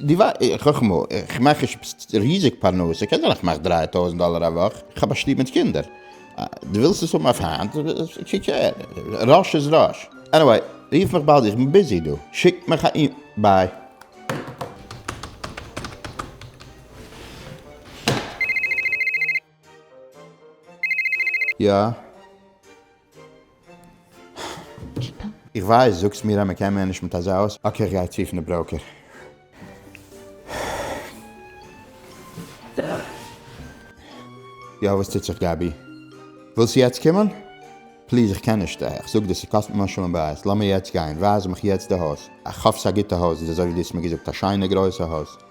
די ווייסט חכמה, איך מאך נישט ריזיג פרנסה, קען זיין איך מאך דרײַ טויזנט דאלער א וואך, איך האב א שטוב מיט קינדער, דו ווילסט עס האבן אויף היינט, טשי קעיר, ראש איז ראש. עניוועי, רוף מיך באלד, איך בין ביזי דא, שיק מיך א אימעיל, ביי. יא. איך ווייס, זאגסט מיר אז מען קען מער נישט מיט אזא אויס. אקעי איך גיי צו פון די בראוקער. יא וואס טוט זיך גבי? ווילסט יעצט קומען? פליז איך קען נישט, איך זאג דיר ס'קאסט ממש שלום בית, לאמיר יעצט גיין, ווייז מיך יעצט די הויז, איך האף ס'איז א גוטע הויז, איז אזוי ווי דו האסט מיר געזאגט א שיינע גרויסע הויז.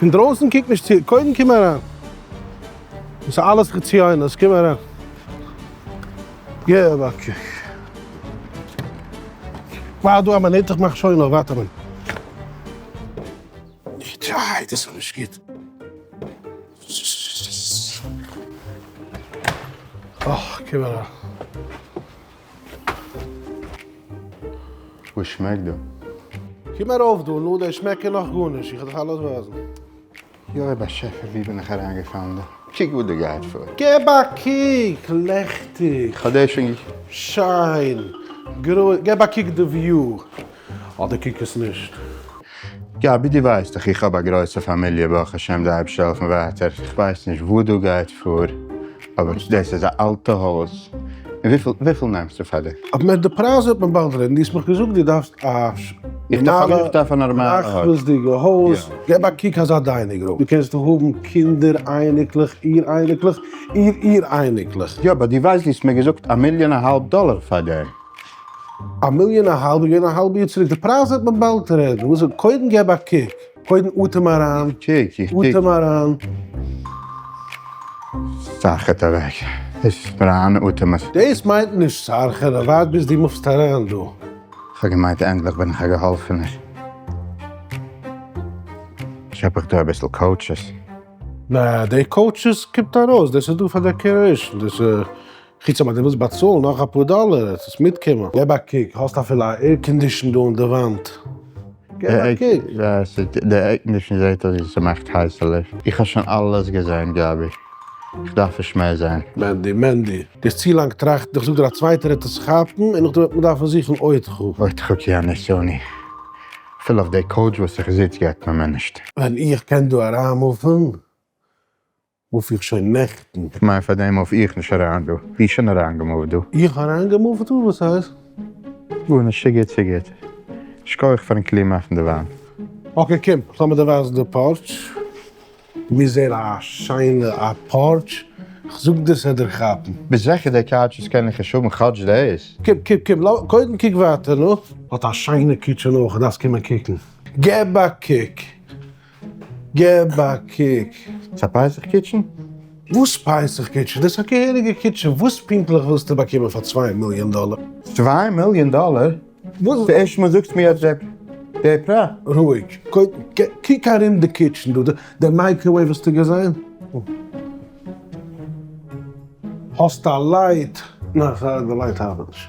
פון דרויסן קוק נישט צו, קודם קום אריין. דאס איז אלעס חציונות, קום אריין. געב א קוק. ווארט דא א מינוט, איך מאך שוין אויף, ווארט א מינוט. די דאס איז נישט גוט. אוי, קום אריין. וואס שמעקט דא? קום ארויף דא, נו, דער שמעק קען נאך גארנישט, איך וועל דיך אלעס ווייזן. יואב באשעפער ווי בין איך אריינגעפאלן דא? קוק וואס דא גייט פאר. געב א קוק! לעכטיג. כ'האב דעיס שוין געקוקט. שיין. געב א קוק די וויו. אדער קוק עס נישט. גבי דו ווייסט דאך איך האב א גרויסע פאמיליע ברוך השם די אייבשטער העלפן ווייטער איך ווייס נישט וואו דא גייט פאר אבער דאס איז א אלטע הויז און וויפיל וויפיל נעמסטו פאר די. אבער מער די פרייז וועט מען באלד רעדן דו האסט מיך געזאגט דו דארפסט א נארמאלע פראכטוואזדיגע הויז געב א קוק אזא דיינינג רום דו קענסט האבן קינדער אייניקלעך איר אייניקלעך איר איר אייניקלעך. יא באט דו ווייסט דו האסט מיר געזאגט א מיליאן אהאלב דאלער פאר די. א מיליאן א האלב געווען א האלב יאר צוריק, די פרייז וועט מען באלד רעדן, וואס איז, קודם געב א קוק, קודם אטעם אריין, אטעם אריין. סארחעט אוועק, עס איז פאראן אטעם. דאס מיינט נישט סארחען, ווארט ביז דו מופסט אריין דא. כ'האב געמיינט ענדליך בין איך א געהאלפענער, כאפ איך דא אביסל קאוטשעס. נעה, די קאוטשעס קומט ארויס, דאס איז דא פאר דעקערעישן, דאס איז. חוץ אויב אז דו ווילסט באצאלן נאך אפאר דאלער וועט עס מיטקומען. געב א קוק, האסט אפילו א עירקאנדישן דא אין די וואנט? געב א קוק. די עירקאנדישן זעהט אויס ווי ס'מאכט הייסע לופט. איך האב שוין אלעס געזעהן גבי, איך דארף נישט מער זעהן. מענדי, מענדי. דו האסט צו לאנג געטראכט, איך זאג דיר א צווייטער וועט עס כאפן און נאכדעם וועט מען דארפן זוכן עוד חו. עוד חו כי אנוסוני. אפילו אויף די קאוטש וואס איך זיץ געט מען מיר נישט. ווען איך קען דא אריינמופן. מוף איך שוין נעכטן. כ'מיין פאר דעם מוף איך נישט אריין דא. ווי שוין אריין געמופט דא. איך אריין געמופט דא? וואס הייסט? גארנישט ס'איז גוט ס'איז גוט. שכוח פארן קלאר מאכן די וויין. אקעי קום לאמיר דיר ווייזן די פארטש. מיר זעהן א שיינע א פארטש. כ'זאג דיר ס'עט דיר כאפן. ביסט זיכער די קאוטשעס קענען נישט האבן כאטש דעיס? קום קום קום לאמיר קודם קוק ווייטער נו. האט א שיינע קיטשען אויך דארפסט קומען קוקן. געב א קוק. געב א קוק. ס'איז א פסח קיטשען? וואס פסח קיטשען? דאס איז א געהעריגע קיטשען, וואס פונקטליך ווילסטו באקומען פאר צוויי מיליאן דאלער? צוויי מיליאן דאלער? ס'ערשטע מאל זאגסטו מיר אזא פרט. רואיג, קוק ארום די קיטשען דא, די מייקראוועיוו האסטו געזען? האסט א לייט? ניין, די לייט ארבעט נישט.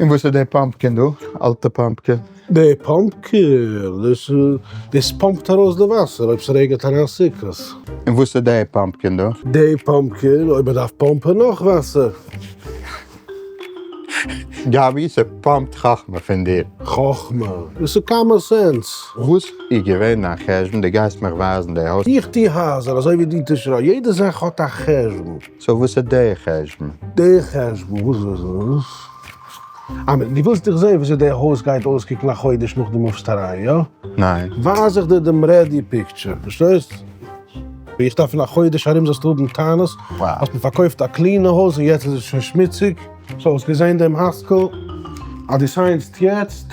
און וואס איז די פאמפקען דא? אלטע פאמפקען? די פאמפקען? דאס דאס פאמפט ארויס די וואסער אויב ס'רעגענט אריין סוכות. און וואס איז די פאמפקען דא? די פאמפקען? אויב מ'דארף פאמפען נאך וואסער. גבי, ס'פאמפט חכמה פון דיר. חכמה? דאס איז קאמאן סענס. וואס איז געווען דיין חשבון? דו גייסט מיך ווייזן די הויז? איך טוה הייזער אזוי ווי דו טוסט רייט. יעדע זאך האט א חשבון. סאו וואס איז דער חשבון? דער חשבון וואס וואס וואס? אה דו ווילסט איך זעה וויאזוי דער הויז גייט אויסקוקן א חודש נאך דו מופסט אריין, יא? ניין. ווייז איך דיר דעם רעדי פיקטשער, פארשטייסט? ווי איך דארף אין א חודש ארום זאלסטו האבן טענות אז מען פארקויפט א קלינע הויז און יעצט איז עס שוין שמוציג. סאו האסט געזען דעם הייזקעל אז דו סיינסט יעצט?